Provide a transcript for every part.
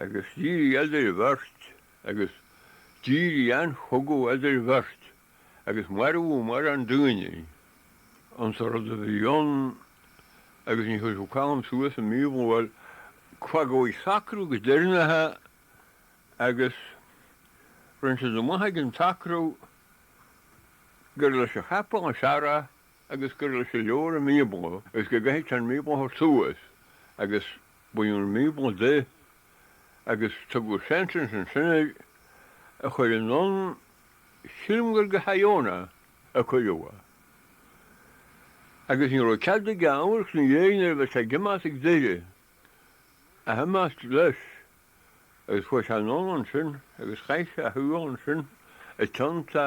agus dírí eadar bheirt agus dírí an-chogadh eadar bheirt agus marbhú mar fhan daoine ann sa rud a bhí ann agus ní chuirfeadh cam suas i mí-bhuail faigheoidh sacradh go deirnithe agus roinnt de na maithe ag an tsacradh gur leis a cheapfá an searradh agus gur leis an leabhar an Bíobla agus go gcaithfeadh sé an Bíobla a thabhairt suas agus baineadh an Bíobla de agus tugadh sentence ansin air a chur anonn, sílim gur go hIona a cuireadh é, agus ní raibh cead aige amharc ina dhéidh nuair a bheadh sé ag imeacht as Doire ach imeacht leis agus chuaigh sé anonn ansin agus chaith sé a shaol ansin i dteannta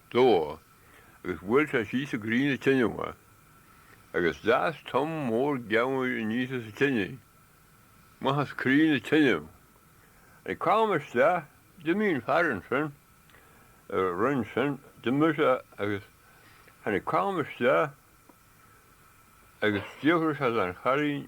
dó, agus bhuail sé síos i gcroí na teineadh é, agus d'fhás tom mór geamhair aníos as an teinidh, amach as croí na teineadh. Tháinig Colm isteach, d'imigh an fear ansin, a rinn sin, d'imigh sé agus tháinig Colm isteach agus d'fhiafraigh sé den chailín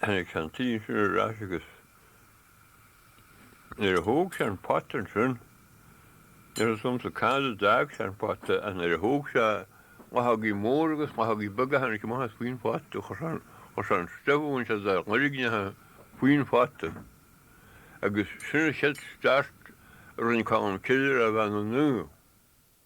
Tháinig sé ansin ar ais agus nuair a thóg sé an pota ansin, níl a fhios agamsa cá fhad a d'fhág sé an pota ach nuair a thóg sé luchógaí móra agus luchógaí beaga tháinig amach as faoin phota, chuir sé an stuif a bhain sé dá loirgneacha faoin phota agus sin an chéad start a rinne Colm Cille ar a bheith ina naomh.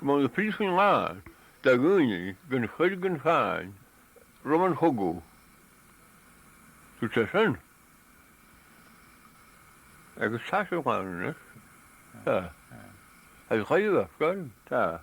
mbeadh na príosúin lán de dhaoine gan choir gan cháin roimh an chogadh, dúirt sé sin agus tá sé ann anois. Tá. Tá sé chaill ar scoil. Tá.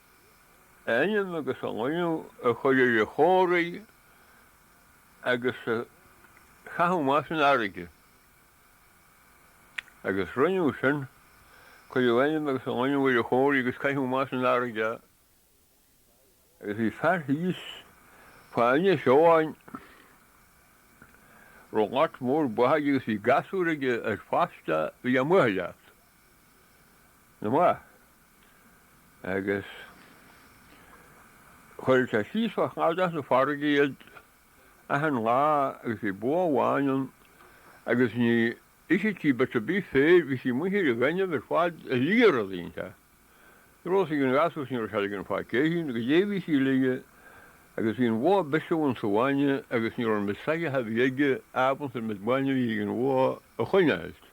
ainm agus a shloinneadh a chur ar a chomhraí agus a chaitheamh amach san fharraige, agus rinneadh sin, cuireadh ainm agus a shloinneadh ar a chomhraí agus caitheadh amach san fharraige, agus bhí fear thíos fá Inis Eoghain, a raibh lot mór ba aige agus bhí gasúr aige ar fostó a bhí ag buachailleacht na mba. agus chuir sé síos fá chladach na farraige iad achan lá agus bhí bó amháin ann agus ní itheadh sí bit a' bith féir, bhí sí amuigh ar a' ghaineamh ar fad a' lí rud inteacht. Ní raibh a fhios ag an ghasúr agus ní raibh sé ligean faic é fhéin, goidé a bhí sí a lí agus bhí an bhó a' bisiú ins a' bhainne agus ní raibh an méid soitheach a bhí aige ábalta an méid bainne a bhí ag an bhó a choinneáilt.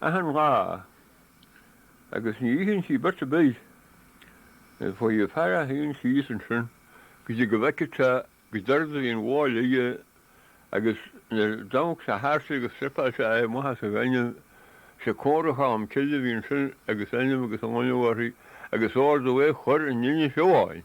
achan lá, agus ní itheann sí bit ar bith. Is faoi a fear a théann sí ansin go dtí go bhfeicfeadh sé goidé rud a bhí an bháil aige, agus nuair d'amharc sé thart agus stripeáil sé é amach as an ghaineamh, sé comhra Cholm Cille a bhí ansin agus ainm agus sloinneadh uirthi agus ordú é a chur in Inis Eoghain.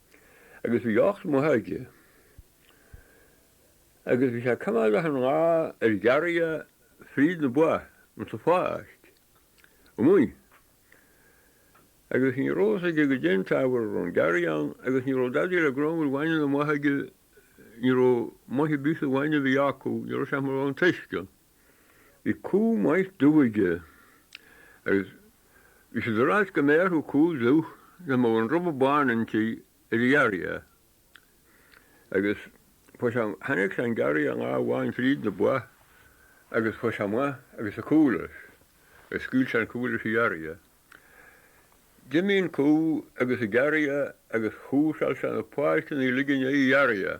agus bhí ocht mba aige, agus bhí sé ag coimeád achan lá ar ghiorria fríd na ba insa pháirc amuigh, agus ní rabh fhios aige goidé an t-ábhar a rabh an giorria ann, agus ní rabh dadaí le grámhar bhainne na mba aige, ní rabh maith ar bith sa bhainne a bhí acu, ní rabh sé ach mar a bheadh an t-uisce ann. I gCo. Mhaigh Duibhge, agus is ar ais go mbeadh a cúl dubh le mo an rubha bán inti ar a ghearrtha, agus fuair sé tháinig sé an gearrtha i ngá amháin fríd na ba agus fuair sé maith agus a cúl is a scaoil sé an cúl is a ghearrtha. D'imigh an cú agus a gearrtha agus chúrsáil sé na páirceanna i ligean é a ghearrtha.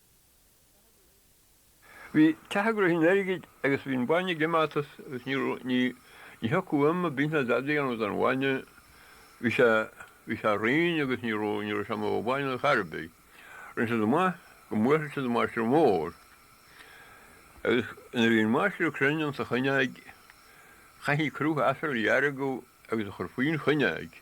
Bhí ceathrar in airgid agus bhí an bainne ag imeacht as agus ní raibh, ní, ní thiocfadh im a' bith ná dadaí ann don bhainne, bhí sé, bhí sé righin agus ní raibh, ní raibh sé maith an bainne ar chor a' bith. Rinne siad amach go mbuailfeadh siad an maistreadh mór. Agus nuair a bhí an maistreadh cruinn ins a' chuinneoig chaithfí crú asail a dheargadh agus a chur faoin chuinneoig.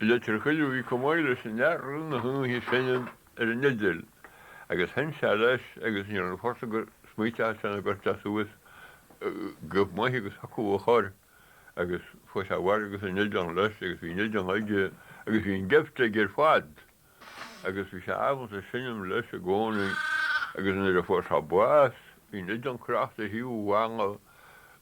I litir chuig Uí Chonghaile sin dhearcadh na huaighe ag seinm ar an fhideal agus sheinn sé leis agus níor fhan fórsa gur smaoiteadh sé na gorta suas go maith agus chucu a chur agus chuaigh sé abhaile agus an fhideal leis agus bhí an fhideal aige agus bhí an gift aige ar fad agus bhí sé ábalta seinm leis i gcónaí agus nuair a fuair sé bás bhí an fhideal crochta ar thaobh an bhalla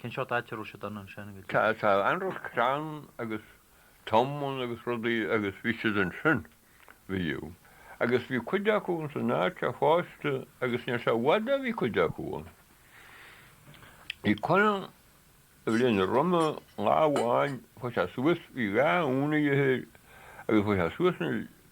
Cén seort áit a raibh siad ann ansin? Tá an-rud crann agus tomain agus rudaí agus bhí siad ansin, bhíodh. Agus bhí cuid acu ins an áit seo fosta agus níl sé i bhfad ó bhí cuid acu ann. Bhí conair a bhí linn roime lá amháin, chuaigh sé suas, bhí dhá uan aige thoir agus chuaigh sé suas na,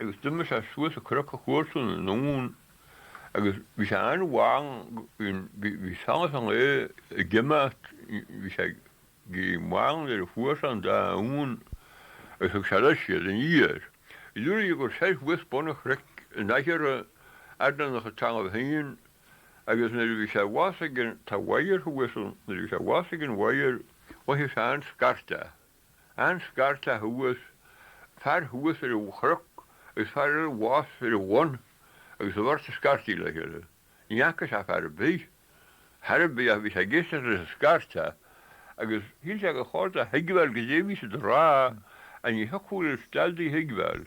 agus d'imigh sé suas an cnoc a chuartú na n-uan agus bhí sé an-mhall, bhí solas an lae ag imeacht, bhí sé an-mhall nuair a fuair sé an dá uan agus thug sé leis iad aniar. Luaigh sé gur seilf bhus bun a chnoic in aice Airneannach atá ann féin agus nuair a bhí sé abhus ag an, tá wire abhus ann, nuair a bhí sé abhus ag an wire, mhothaigh sé an scairt. An scairteadh thuas, fear thuas ar an chroc agus fear eile abhus ar an bhun agus an bheirt ag scairtigh le chéile. Ní fhaca sé fear ar bith, ar chor ar bith ach bhí sé ag éisteacht leis an scairteadh agus shíl sé gur chóir dó a thuigbheáil goidé a bhí siad a rá, ach ní thiocfadh leis dadaí a thuigbheáil.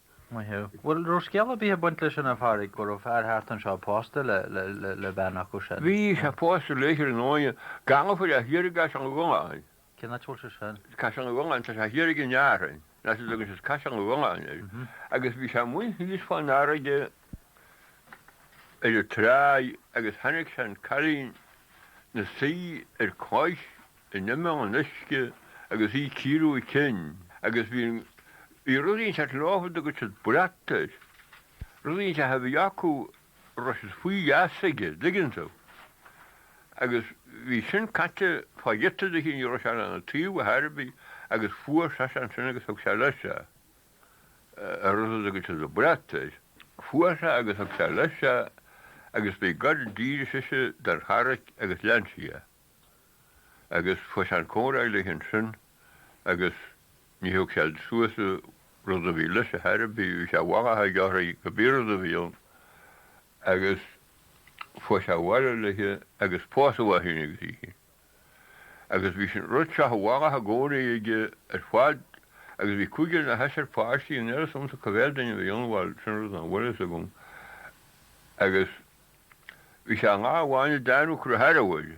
Maith thú. Bhuel, raibh scéal ar bith ag baint leis sin, a Phádraig, go raibh fear thart anseo pósta le bean acu sin? Bhí sé pósta léi, ar ndóighe. Gallchobhair thiar as an gColáinn. Cén áit a bhfuil sé sin? Caisleán an Choláinn. Tá sé thiar in Árainn. Nach é a dtugann siad Caisleán an Choláinn air. Agus bhí sé amuigh thíos fán fharraige ar an tráigh agus chonaic sé an cailín 'na suí ar cloich in imeall an uisce agus í ag cíoradh a cinn agus bhí an bhí rud inteacht ar láimh a dtugadh siad brat air. Rud inteacht a bhí acu a raibh siad faoi gheasa aige, dtuigeann tú. Agus bhí sin caite fá ghiota do chinn í raibh sé ann ina taobh ar chor ar bith agus fuair seisean sin agus thug sé leis é. A rud a dtugadh siad an brat air. Fuair sé agus thug sé leis é agus by God d'éirigh sise den charraig agus lean sí é. agus chuaigh sé ag comhrá léi ansin agus ní thug sé suas an rud a bhí leis ar chor ar bith, bhí sé mhaith a dhearthaigh go bhfíor rud a bhí ann agus chuaigh sé abhaile léi agus pósadh é féin agus í féin. Agus bhí sin rud sách maith i gcónaí aige ar fad agus bhí cúigear nó seisear páistí níl a fhios agamsa cá mhéad duine a bhí ann, bhuel sin rud nach bhfuil a fhios agam agus bhí sé aon lá amháin ag déanamh cruaiche uaidh.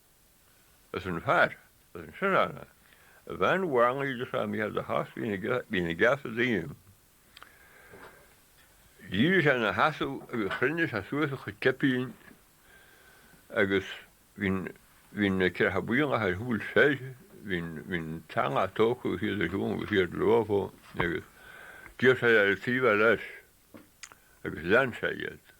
As an fear, arsa an Sineánach, a bhain mhangairí de Sam iad a chás bhí na geasa díom. D'éirigh sé ina sheasamh agus chruinnigh sé suas a chuid cipín agus bhí na Ceithre Buíongacha ar shiúl soir, bhí an t-eallach tógtha agus iad ar shiúl agus iad leofa agus d'iarr sé ar an taobh eile leis agus lean sé iad.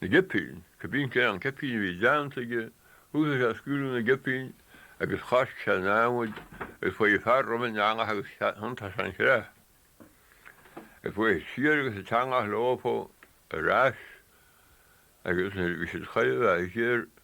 na gcipín, cibé cén cipín a bhí déanta aige, thúsaigh sé ag scaoileadh na gcipín agus choisc sé an namhaid agus chuaidh an fear roimh an eallach agus thiontaigh sé an chreach agus chuaidh siad siar agus an t-eallach leóbhtha ar ais agus nuair a bhí siad chaidhimh a' ghéar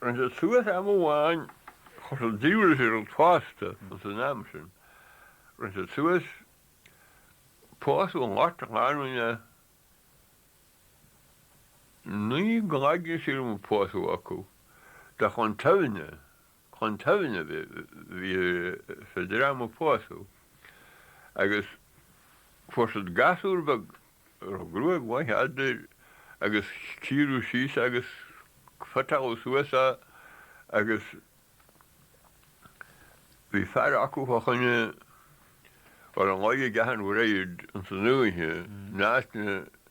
Rinne siad suas am amháin chun an diabhail a dhíol fosta ins an am sin. Rinne siad suas pósadh ocht lánúin nó naoi gcloigne sílim a pósadh acu. Bheadh an taibhne chun toimhde a bhí sa dream a pósadh agus fuair siad gasúr beag a raibh gruaig mhaith fhada air agus cíoradh síos agus feiceáladh suas é agus bhí fear acu fá choinne bhuel an laige a gceathair bhreid insan oíche in áiteanna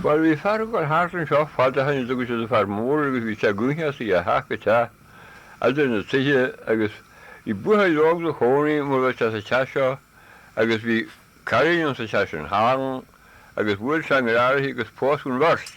Bhuel, bhí fear ag dul thart anseo fad ó shin a dtugadh siad an Fear Mór agus bhí sé ag gabháil thart ó theach go teach eadar na tighthe agus bhí buachaill óg 'na chónaí mur bhfuil sé sa teach seo agus bhí cailín ann sa teach sin. Tharraing agus bhuail sé an grá orthu agus pósadh an bheirt.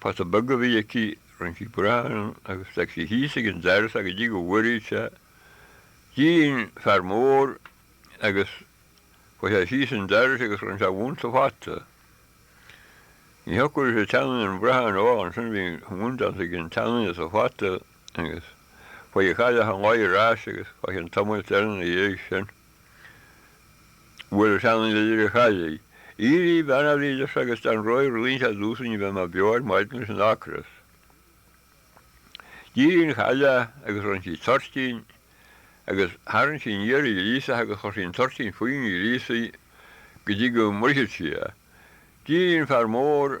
Pota beag a bhí aici, rinne sí brachán agus d'fhag sí thíos ag an doras go dtí go bhfuaradh sé. D'éirigh an fear mór agus chuaidh sé síos an doras agus rinne sé a mhún sa phota. Ní thiocfadh leis an tseanduine an brachán a ól annsin bhí a mhún deanta ag an tseanduine sa phota agus chuaidh an chailleach chun gáire arais agus chuaidh an tamall thart in a dhiaidh sin. Bhuel, ceann de dhíreach Shailí, Aoirí, Beannaílis agus den Roinn Roinnt a dúsainn a bheith mar beo ar maidin leis an ocras. Díríonn Caille agus roinn sí toirtín agus tharraing sí aniar i gríosach agus chuir sí an toirtín faoin ngríosaí go dtí go mbrisfead sí é. Díríonn fear mór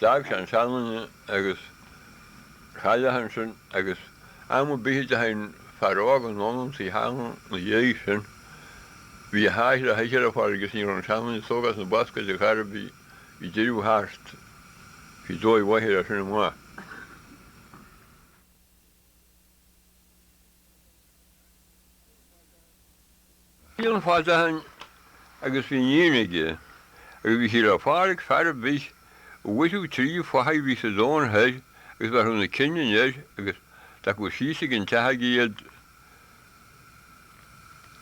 D'fhág sé an seanduine agus an chailleach ansin agus am ar bith a dteachaidh an fear óg anonn ionsar an tseanduine ina dhiaidh sin, bhí a sháith le hithe le fáil agus ní raibh an seanduine níos óga ach sna bascáidí Garbha bhí deireadh thart, bhí dóigh mhaith air as sin amach. Bhí rí ann fad ó shin agus bhí iníon aige, agus bhí sí le fáil ag fear ar bith a mharódh trí fathaigh a bhí sa domhan thoir agus a bhéarfadh na cinn aniar agus a d'fhágfadh síos ag an teach aige iad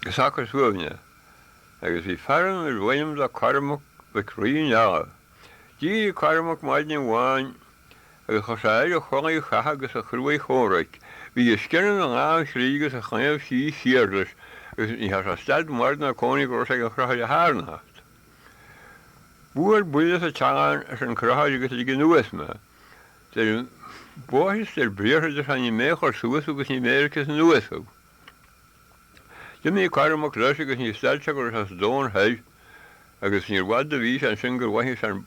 go socair suaimhneach. Agus bhí fear ann arbh ainm dó Cormac mac Rí na nGall. D'éirigh Cormac maidin amháin. Agus chuir sé air a chulaith chatha agus a chrua-chomhraic, bhí a scian ina dhá chrígh agus a chlaíomh síos siar leis, agus ní dhearna sé stad mara ná cónaí go raibh sé ag an chrochaire tarnocht. Buail buille sa teannán, arsa an crochaire, agus lig anuas mé. Dar móid is dar briathar, a deir sé, ní mé a chuir suas thú agus ní mé a ligfeas anuas thú. D'imigh Cormac leis agus níor stad sé go raibh sé sa domhan thoir, agus níor bhfada a bhí sé ansin gur mhothaigh sé an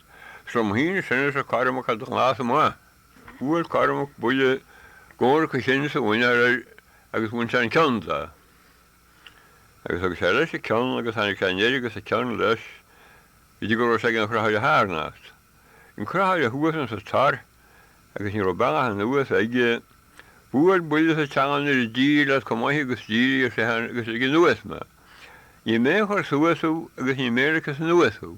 Is liom féin sin, arsa Cormac, ó do lása amach. Bhuail Cormac buille i gcomhrac a chinn is a mhuiníl air agus bhain sé an ceann de. Agus thug sé leis an ceann agus tháinig sé aniar agus an ceann leis go dtí go raibh sé ag an Chrochaire Tharnocht. An Crochaire thuas insa Tor agus ní raibh bealach anuas aige. Buail buille sa teanga nuair a d'éirigh leat chomh maith agus d'éirigh, ar seisean, agus lig anuas mé. Ní mé a chuir suas thú agus ní mé a ligfeas anuas thú.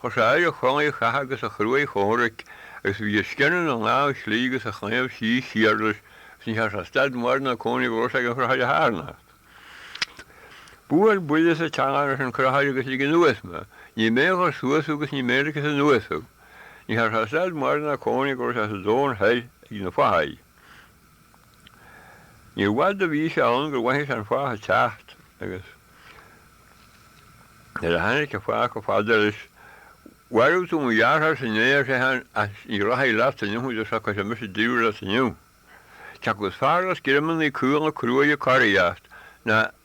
Chuir sé air a chulaith chatha agus a chruaidh chomhraic, agus bhí a scian ina lámh chlí agus a chlaíomh síos siar leis, is ní dhearn sé stad mara ná cónaí go raibh sé ag an chrochaire tharnocht. Buail buille sa teanga arsa an crochaire agus lig anuas mé. Ní mé a chuir suas thú agus ní mé a ligfeas anuas thú. Ní dhearn sé stad mara ná cónaí go raibh sé sa domhan thoir ag na fathaigh. Níorbh fhada a bhí sé ann gur mhothaigh sé an fathach ag teacht, agus nuair a tháinig an fathach chomh fada leis, Mharbh tú mo dheartháir-sa inné, ar seisean, ach ní rachaidh leat inniu nó socróidh mise díreach leat inniu. Cé acu is fearr leatsa greamannaí cúnga cruaidhe coraíocht ná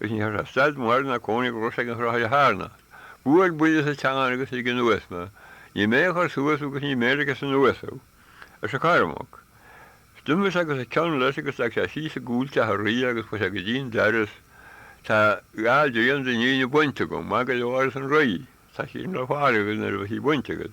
Is ní dhearn sé stad mara ná cónaí go raibh sé ag an Chrochaire Tharnocht. Buail buille sa teanga agus lig anuas mé. Ní mé a chuir suas thú agus ní mé a ligfeas anuas thú, arsa Cormac. Is d'imigh sé agus an ceann leis agus leag sé síos i gcúl teach an rí agus chuaigh sé go dtí'n doras. Tá dhá dtrian de do níon bainte agam. Maith go leor, arsa an rí, tá sí le fáil agat nuair a bheas sí bainte agat,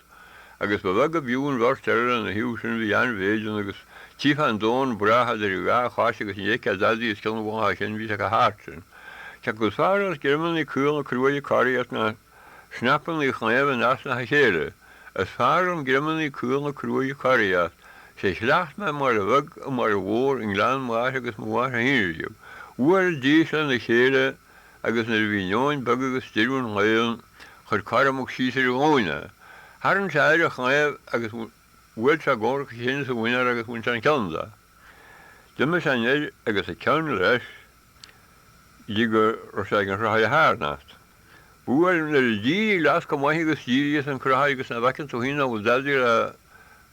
agus ba bheag ab fhiú an bheirt eile lena thaobh sin, bhí an-mhéid ann agus tchífeá an domhan brách idir a dhá chois agus ní fheicfeá dadaí os cionn a bhaithise, bhí sé chomh hard sin. Cé acu is fearr leatsa, greamannaí caola cruaidhe coraíocht ná snapannaí claímh in easnacha a chéile? Is fearr liom greamannaí caola cruaidhe coraíocht. Sé a chleacht mé i mbaile bheag i mbaile mhór i ngleann m'athar agus mo mháthair féin riamh, chuaigh an dís lena chéile agus nuair a bhí neoin bheag agus deireadh an lae ann, Chuir Cormac síos ar a ghlúine é. Tharraing sé air a chlaíomh agus bhuail sé i gcomhrac a chinn is a mhuiníl é agus bhain sé an ceann de. D'imigh sé anoir agus a cheann leis go dtí go raibh sé ag an Chrochaire Tharnocht. Bhuel, nuair a d'éirigh leatsa chomh maith agus d'éirigh, arsa an Crochaire, agus nach bhfeiceann tú fhéin a bhfuil dealraí le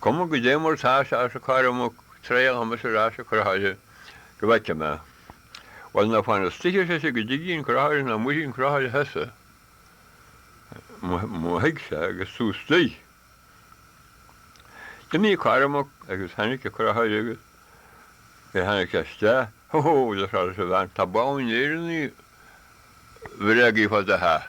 Cuma goidé mar tá sé arsa Cormac, triailfidh mise ar ais an crochaire go bhfeice mé. Bhuel, ná fan istoigh, ar sise, go dtige an crochaire nó muirfidh an crochaire thusa. Má thig sé agus tú istoigh. D'imigh Cormac agus tháinig an crochaire agus nuair a tháinig sé isteach, Hó hó, ar seisean, a bhean, tá boladh an Éireannaigh bhréagaigh fá do theach.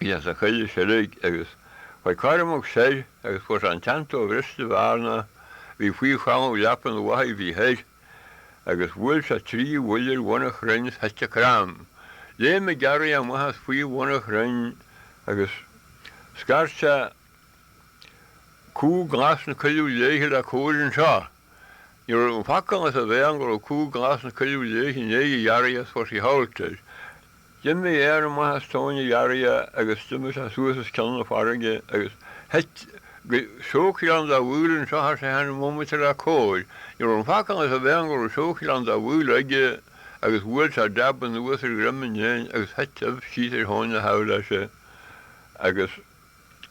siar sa choill a sheilg agus chuaigh Cormac soir agus fuair sé an tseantua bhriste bhearnach a bhí faoi cholbha leapa an fhathaigh a bhí thoir agus bhuail sé trí bhuille ar bhun an chrainn is thuit an crann. Léim an gearria amach as faoi bhun an chrainn agus scairt sé cú glas na coilleadh léithe le cabhair anseo. Ní raibh an focal as a bhéal go raibh cú glas na coilleadh léithe i ndiaidh an ghearria agus fuair sí hoult air. D'imigh éan amach as tóin an ghearria agus d'imigh sé suas os cionn na farraige agus thuit go Seabhac Ghleann dá Mhaoil annseo ar seisean bomaite le cabhair. Ní raibh an focal as a bhéal go raibh Seabhac Ghleann dá Mhaoil aige agus bhuail sé dab anuas ar dhroim an éin agus thuit uibh síos ar thóin na h-aibhéise agus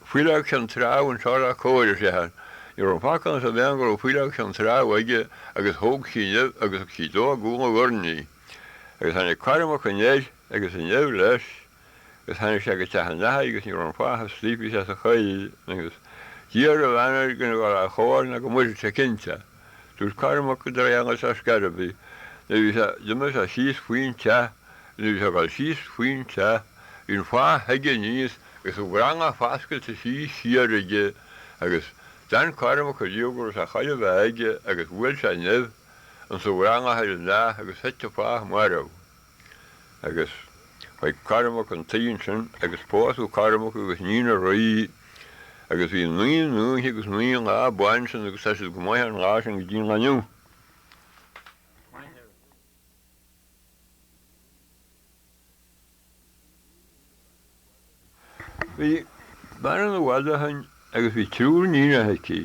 Faoileog Cheann Trá anseo le cabhair. Ní raibh an focal as a bhéal go raibh Faoileog Cheann Trá aige agus thóg sí an uibh agus thug sí dó ina dhorn í. Agus tháinig Cormac aniar agus an uibh leis agus tháinig sé go teach an fhathaigh agus ní raibh an fathach istigh bhí sé sa choill agus d'iarr an bhean air gan a dhul a chomhair nó go muirfeadh sé é cinnte. Dúirt Cormac de Réangaidh as Gairbhí, Nuair a bhí sé, d'imigh sé síos faoin teach, nuair a bhí sé ag dul síos faoin teach, bhí an fathach chuige aníos agus a dhrandal foscailte síos siar aige, agus d'fhan Cormac ariamh go raibh sé chóir a bheith aige agus bhuail sé an uibh ins an drandal ar an fhathach agus thit an fathach marbh. agus chuaigh Cormac chun tí ansin agus pósadh Cormac agus níon an rí agus bhí naoi n-oíche agus naoi lá bainse ann agus tá siad go maith ón lá sin go dtí an lá inniu. Bhí bean ann i bhfad ó shoin agus bhí triúr níonacha aici.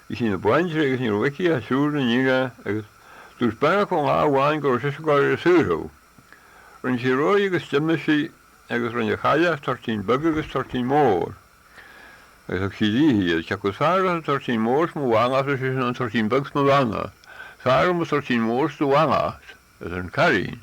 Bhí sí ina baintrigh agus ní raibh aici ach triúr na níonacha agus dúirt bean acu lá amháin go raibh sise ag gabháil a shaothrú. Rinne sí réidh agus d'imigh sí agus rinne an chailleach toirtín beag agus toirtín mór agus thug sí di iad. Cé acu is fearr leat an toirtín mór is mo mhallacht ar sise nó an toirtín beag is mo bheannacht. Is fearr liom an toirtín mór is do mhallacht, arsa an cailín.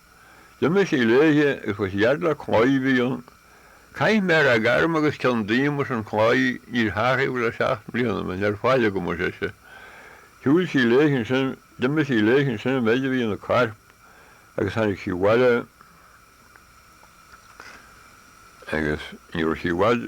D'imigh sí léithe agus chuaigh sí thart le claí a bhí ann. Caith mé rath gairm agus ceann díom arsa an claí, níor tharraing le seacht mbliana mé níl faill agam ar sise. Shiúil sí léithe ansin, d'imigh sí léithe ansin an mhéid a bhí ina corp agus tháinig sí abhaile agus ní raibh sí i bhfad.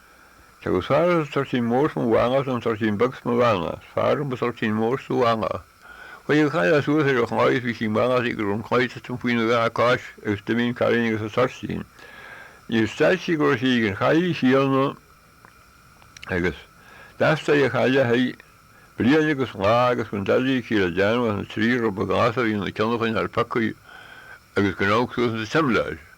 Cé acu is fearr leat toirtín mór is mo mhallacht nó an toirtín beag is mo bheannacht, is fearr liom an toirtín mór is do mhallacht. Chuaidh an chailleach suas ar an chlaí is bhí sí ag mallachtaigh go raibh an claí ag tuitim faoina dhá cois agus d'imigh an cailín agus an toirtín. Níor stad sí go raibh sí ag an chailligh chéadna agus d'fhostaigh an chailleach í bliain agus lá agus gan dadaidh aici le déanamh ach na trí rud a gnáthach a bhí ina ceann a choinneáil pioctha agus gan amharc suas ins a' tsimléar.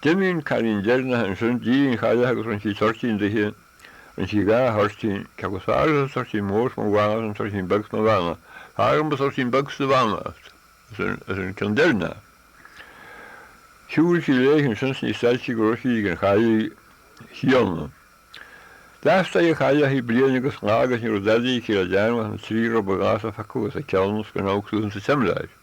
D'imigh an cailín deireanach ansin, i ndiaidh an chailleach agus rinne sí toirtín daoithe, rinne sí dhá thoirtín, cé acu is fearr leat an toirtín mór 's mo mhallacht nó an toirtín beag 's mo bheannacht, is fearr liom an toirtín beag 's do bheannacht arsa an ceann deireanach. Shiúil sí léi ansin 's níor stad sí go raibh sí ag an chailligh chéanna. D'fhastaigh an Chailleach í bliain agus lá agus ní raibh dadaí aici le déanamh ach na trí ribe glasa a phiocadh as a ceann 's gan amharc suas insa tsimléar.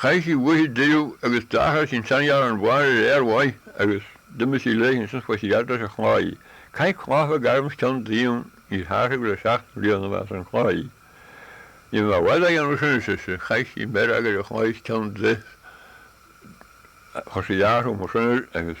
Chaith sí uaithi deireadh agus d'athraigh sí an seanghearrán bán ar fhéar mhaith agus d'imigh sí léi ansin suas fhad leis an chlaí. Caith cloch bheag orm 's ceann díom níor hathraíodh le seacht mbliana mé arsa an claí. Ní bheidh mé i bhfad á dhéanamh sin, ar sise. Chaith sí méaróg ar an chlaí 's ceann de 's chuir sí earrach ó mo shúil agus.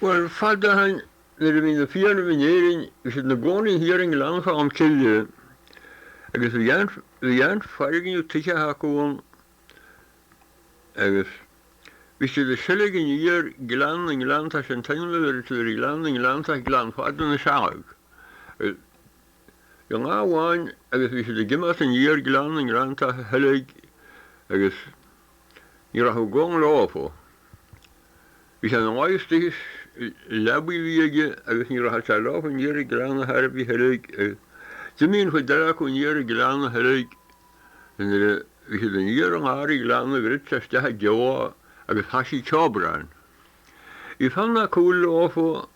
Bhuel, fada ó shin, nuair a bhí na Fianna in Éirinn, bhí siad ina gcónaí thiar i nGleann Cholm Cille, agus bhí an, bhí an foirgneamh tithe acu ann, agus bhí siad ag seilg aniar Gleann na nGleanntach, sé an t-ainm a bheirtí ar Ghleann na nGleanntach, Gleann Fada na Sealg, agus. aon lá amháin agus bhí siad ag imeacht aniar Gleann na nGleanntach a sheilg agus ní rachadh Goll leofa. Bhí sé ina luí istigh sa leabaidh a bhí aige agus ní rachadh sé leofa aniar an gleann ar chor ar bith a sheilg agus d'imigh an chuid eile acu aniar an gleann a sheilg is nuair a bhí siad aniar i ngar an ghleanna gur thit sé isteach i dtiobhá agus thoisigh ceobrán. Bhí Fionn Mhac Cumhaill leofa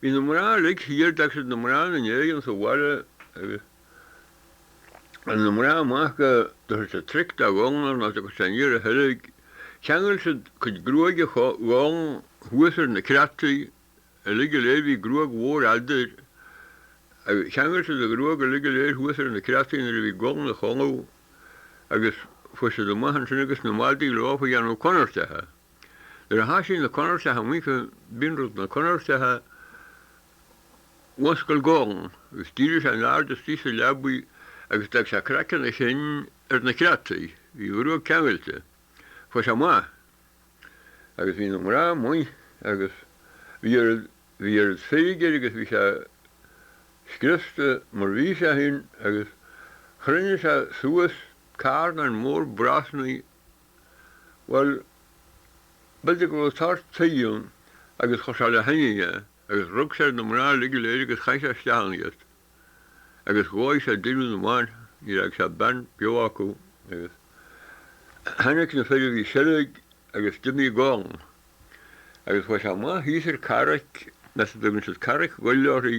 Bhí na mná uilig thiar, d'fhág siad na mná ina ndéidh ins an bhaile agus rinne na mná amach go dtabharfadh siad tric do Gholl nuair nach dtiocfadh sé aniar a sheilg. Cheangail siad cuid gruaige Ghoill thuas ar na creataí uilig go léir, bhí gruag mhór fhada air, agus cheangail siad a ghruag uilig go léir thuas ar na creataí nuair a bhí Goll 'na chodladh agus chuaigh siad amach annsin agus na madaidh leofa a dhéanamh conartacha. Nuair a thoisigh na conartacha amuigh cibé an rud na conartacha mhuscail Goll agus d'éirigh sé in airde istigh sa leabaidh agus d'fhág sé craiceann a chinn ar na creataí. Bhí a ghruag ceangailte. Chuaigh sé amach. Agus bhí na mná amuigh agus bhí oiread feirge air agus bhí sé scriosta mar bhí sé féin agus chruinnigh sé suas carnán mór brosnaí Bhuel, b'fhéidir go raibh sórt tuighe ann agus chuir sé le thine é agus rug sé ar na mná uilig go léir agus chaith sé isteach ann iad agus dhóigh sé deireadh na mban, níor fhág sé bean beo acu agus tháinig na fir a bhí ag seilg agus d'imigh Goll agus chuaigh sé amach thíos ar carraig, anois a dtugann siad Carraig Ghoill uirthi,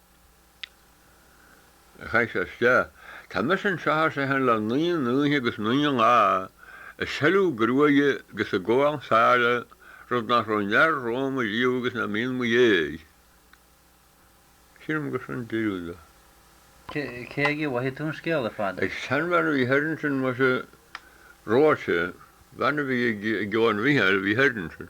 Tá mise anseo, ar seisean, le naoi n-oíche agus naoi lá ag seilg gruaige agus ag ól sáile, rud nach raibh aon fhear romham ariamh agus nach mbíonn mo dhéidh. Sílim gur sin deireadh dó. Cé aige a bhfuair tú an scéal ar fad? Ag seanbhean a bhí thoir ansin, muise, Róise, bean a bhí ag Eoghan Mhícheáil a bhí thoir ansin.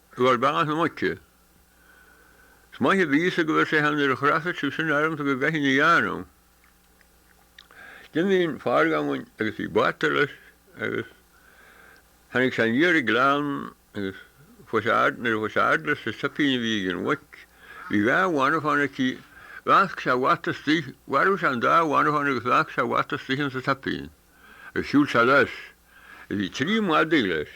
Gur b'ea an moite. 'S maith a bhí a fhios go bhfuil sé ann nuair a chreasfaidh sibh san arm so go gcaithfinn a dheánamh. D'imigh an Feargamhain agus bhí bata leis agus tháinig sé aniar an gleann agus chuaigh sé fhad, nuair a chuaigh sé fhad leis an tsoipín a bhí ag an mhuic, bhí dhá bhanbh ann aici, lasc sé a bhata istigh, mharbh sé an dá bhanbh agus lasc sé a bhata istigh insa tsoipín agus shiúil sé leis. Bhí trí mhadaidh leis.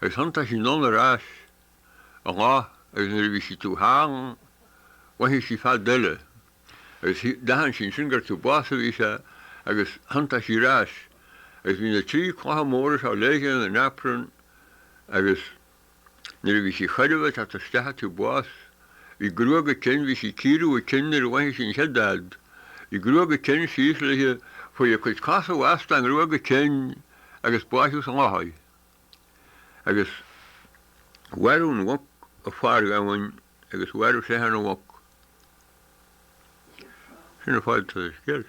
Agus thiontaigh sí anonn ar ais i ngath agus nuair a bhí sí taobh thall mhothaigh sí fead eile agus d'aithin sí ansin gur taobh abhus a bhí sé agus thiontaigh sí ar ais agus bhí na trí clocha móra seo léithe ina naprún agus nuair a bhí sí chóir a bheith ag teacht isteach an taobh abhus bhí gruag a cinn, bhí sí ag cíoradh a cinn nuair a mhothaigh sí an chéad fhead, bhí gruag a cinn síos léithe chuaigh a cuid cosa i bhfastó i ngruag a cinn. agus báitheadh sa loch í, agus mhairbh an mhuc an Feargamhain agus mhairbh seisean an mhuc. Sin an fáithscéal.